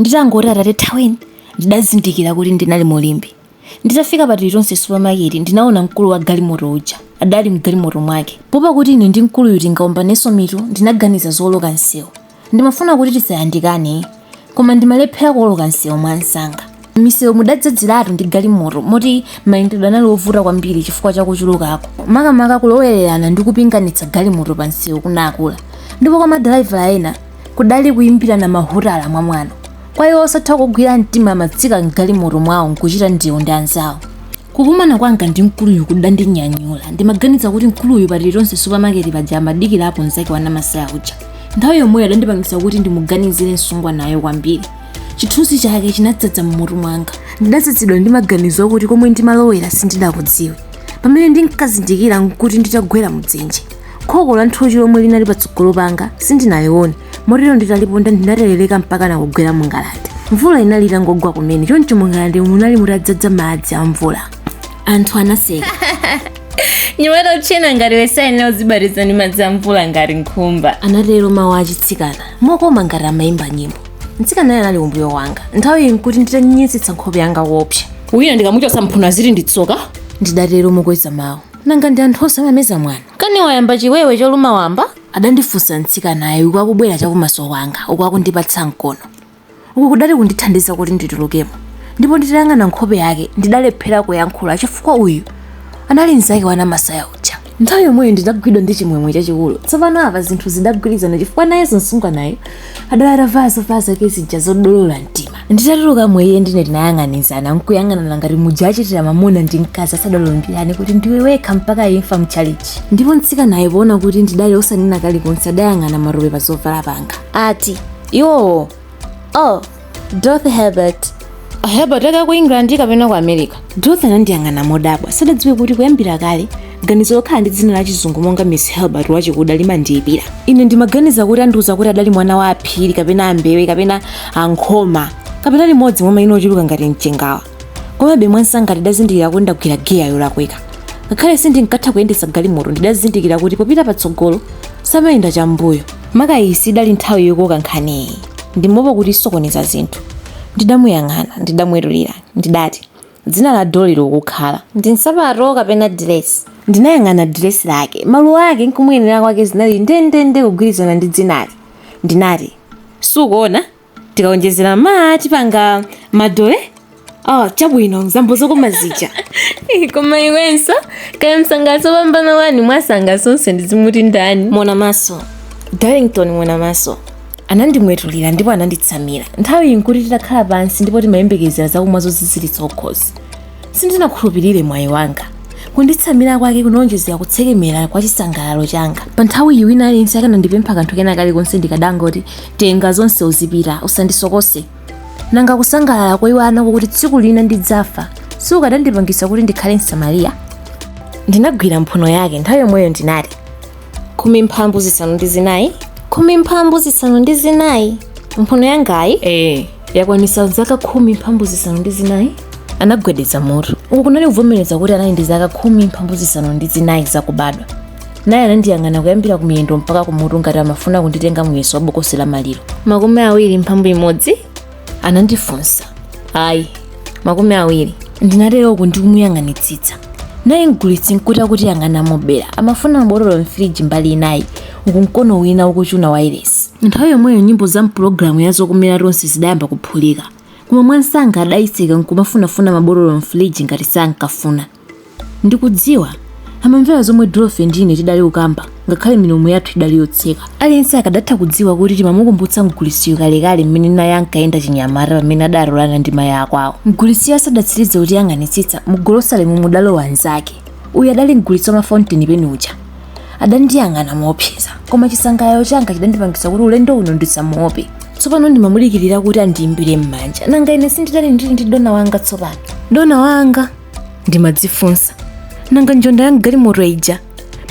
nditangoti atate thaweni ndidazindikira kuti ndinali mu limbe nditafika pa tilitonse supamaketi ndinaona mkulu wa galimoto uja adali mgalimoto mwake poopa kuti ine ndi mkuluyu tingaombanenso mitu ndinaganiza zooloka msewu ndimafuna kuti tisayandikane koma ndimalephera kuoloka msewu mwa msanga mmisewu mudadzadziratu ndi galimoto moti mayendedwe anali ovuta kwambiri chifukwa cha kuchulukako makamaka kulowererana ndi kupinganitsa galimoto pa msewu kunakula ndipo kwa madalaivala ena kudali kuyimbirana mahutala mwa mwano kwa iwo osatha kugwira mtima amatsika mgalimoto mwawo nkuchita ndewu ndi anzawo kukumana kwanga ndi mkuluyu kudandinyanyula ndimaganiza kuti mkuluyu pa tilitonse supamaketi paja amadikirapo mzake wa namasaya uja nthawi yomweyo adandipangisa kuti ndimuganizire msungwanayo kwambiri chithunzi chake chinadzadza mmutu mwanga ndidadzadzidwa ndi maganizo okuti komwe ndimalowera sindidakudziwe pamene ndinkazindikira nkuti nditagwera mudzenje khoko la nthochi lomwe linali patsogolo panga sindinalione motero nditaliponda ndinaterereka mpakana kugwera mungalande mvula inali itangogwa kumene choncho mungalande munali mutadzadza madzi a mvula anthu anaseka mnyamata wotchena ngati iwe sayenera kuzibatiza ndi madzi a mvula ngati nkhumba anatero mawu achitsikana mokoma ngati amayimba nyimbo mtsikanayo anali kumbuyo kwanga nthawiyi nkuti nditanyenyetsetsa nkhope yanga wopsa wina ndikamuchotsa mphuno aziti ndi tsoka ndidatero mokweza mawu Nanga ndi anthu onse amameza mwano? Kani wayamba chiwewe choluma wamba? adandifunsa mtsikanayo uku akubwera chakumaso kwanga uku akundipatsa mkono. Uku kudali kundithandiza kuti nditulukemo ndipo nditayang'ana nkhope yake ndidalephera kuyankhula chifukwa uyu anali mnzake wa Namasaya uja. Nthawi yomweyo ndidagwidwa ndi chimwemwe chachikulu. Tsopano apa zinthu zidagwirizana chifukwa nayenso msungwanayu adali atavala zovala zake zija zodolola mtima nditatulukamo iye ndi ine tinayang'anizana nkuyang'anana ngati muja achitira mamuna ndi mkazi asadalumbirane kuti ndiwe wekha mpaka imfa mchalichi ndipo mtsikanayo poona kuti ndidali osanena kalikonse adayang'ana matope pa zovala panga ati iwowo oh Dorothy Herbert Herbert aka ku England kapena ku America? Dorothy anandiyang'ana modabwa sadadziwe kuti kuyambira kale ganizo lokhala ndi dzina la chizungu monga Miss Herbert wachikuda limandiyipira ine ndimaganiza kuti andiuza kuti adali mwana wa aPhiri kapena aMbewe kapena aNkhoma kapena limodzi mwa mayina ochuluka ngati mchengawa komabe mwansanga ndidazindikira kuti ndagwira giya yolakwika ngakhale sindinkatha kuyendetsa galimoto ndidazindikira kuti popita patsogolo samayenda chambuyo maka iyi sidali nthawi yokoka nkhaniyi ndimaopa kuti isokoneza zinthu ndidamuyang'ana ndidamwetulira ndidati dzina la dolly lokukhala ndi nsapato kapena diresi ndinayang'ana diresi lake maluwa ake nkumuyenera kwake zinali ndendende kugwirizana ndi dzinali ndinati sukuona tikaonjezera ma tipanga madole oh, chabwino mzambo zokoma zija koma iwenso kaya msangaso opambana wani mwasanga sonse ndizimuti ndani mona maso darlington mona maso anandimwetulira ndipo ananditsamira nthawiyi nkuti titakhala pansi ndipo timayembekezera zakumwa zoziziritsa kukhosi sindinakhulupirire mwayi wanga kunditsamira kwake kunawonjezera kutsekemera kwa chisangalalo changa pa nthawi iyi wina aliyense akanandipempha kanthu kena kalikonse ndikadangoti tenga zonse uzipita usandisokose nanga kusangalala koiwala nako kuti tsiku lina ndidzafa sikukadandipangisa kuti ndikhale msamariya ndinagwira mphuno yake nthawi yomweyo ndinati khumi mphambu zisanu ndi zinayi khumi mphambu zisanu ndi zinayi mphuno yangayi ee yakwanisa zaka khumi mphambu zisanu ndi zinayi anagwedeza mutu uku kunali kuvomereza kuti anali ndi zaka khumi mphambu zisanu ndi zinayi zakubadwa naye anandiyang'ana kuyambira kumiyendo mpaka kumutu ngati amafuna kunditenga muyeso wa bokosi la maliro makumi awiri mphambu imodzi anandifunsa ayi makumi awiri ndinatero uku ndikumuyang'anitsitsa naye mgulitsi nkuti akutiyang'ana mobera amafuna mabotolo mfiriji mbali inayi uku mkono wina ukuchuna wairesi nthawi yomweyo nyimbo za mpulogalamu ya zokomera tonse zidayamba kuphulika koma mwansanga adayitseka nkumafunafuna mabotolo mfiriji ngati sankafuna ndikudziwa amamvera zomwe Dorothy ndi ine tidali kukamba ngakhale milomo yathu idali yotseka aliyense akadatha kudziwa kuti timamukumbutsa mgulitsiyo kalekale mmene naye ankayenda chinyamata pamene adalolana ndi mayi akwawo mgulitsiyo asadatsirize kutiyang'anitsitsa mugolosalemu mudalowa nzake uyu adali mgulitsi wa mafountain pen uja adandiyang'ana moopseza koma chisangalalo changa chidandipangisa kuti ulendo uno ndisamuope tsopano ndimamudikirira kuti andiimbire m'manja nanga ine sindidali ndili ndi dona wanga tsopano dona wanga ndimadzifunsa nanga njonda ya mgalimoto ija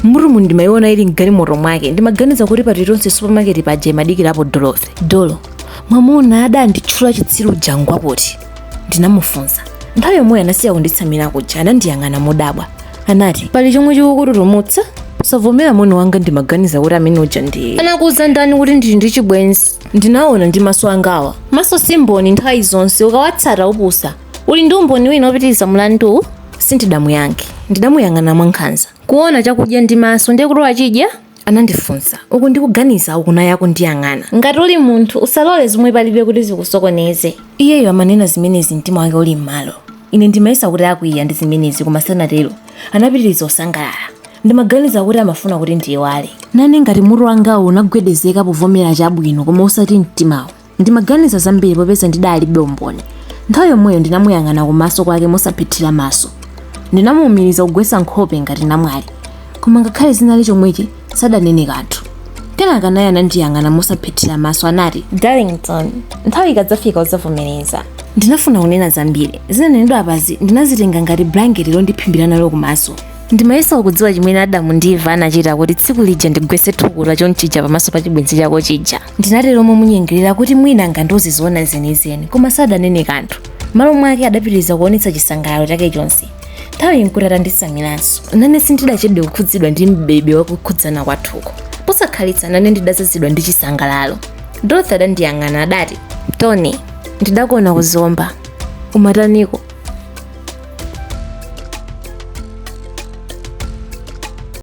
m'mutumu ndimayiona ili mgalimoto mwake ndimaganiza kuti pa tilitonse supermarket paja imadikirapo dorothy dolo mwamuna adanditchula chitsiru uja ngwapoti ndinamufunsa nthawi yomweyo anasiya kunditsamira kuja anandiyang'ana modabwa anati pali chomwe chikukututumutsa osavomera moni wanga ndimaganiza kuti amene uja ndi anakuuza ndani kuti ndili ndi chibwenzi ndinaona ndi maso angawa maso simboni nthawi zonse ukawatsata upusa uli ndi umboni wina opitiriza mlanduwu sindidamuyankhe ndidamuyang'ana mwankhanza kuona chakudya ndi maso ndiye kuti wachidya anandifunsa uku ndikuganiza uku naye akundiyang'ana ngati uli munthu usalole zomwe palibe kuti zikusokoneze iyeyo amanena zimenezi mtima wake uli m'malo ine ndimayesa kuti akwiya ndi zimenezi koma sanatero anapitiriza osangalala ndimaganiza kuti amafuna kuti ndiyiwale nane ngati mutu wangawo unagwedezeka povomera chabwino koma osati mtimawo Ndimaganiza zambiri popeza ndidalibe umboni. Nthawi yomweyo ndinamuyang'ana kumaso kwake mosaphethira maso. Ndinamuumiriza kugwetsa nkhope ngati namwali. Koma ngakhale zinali chomwechi, sadanene kanthu. Kenaka naye anandiyang'ana mosaphethira maso anati, Darlington, nthawi ikadzafika udzavomereza. Ndinafuna kunena zambiri. Zinanenedwa apazi ndinazitenga ngati blanketi londiphimbira nalo kumaso. Ndimayesa ukudziwa chimene Adamu ndi Eva anachita kuti tsiku lija ndigwetse thukuta chonchija pamaso pa chibwenzi chako chija. ndinatero momunyengerera kuti mwina angandiuze zoona zenizeni koma sadanene kanthu m'malo mwake adapitiriza kuonetsa chisangalalo chake chonse nthawiyi nkuti atanditsamiranso nane sindidachedwe kukhudzidwa ndi mbebe wakukhudzana kwathuko posakhalitsa nane ndidadzazidwa ndi chisangalalo dorothy adandiyang'ana adati tony ndidakuona ku Zomba umataniko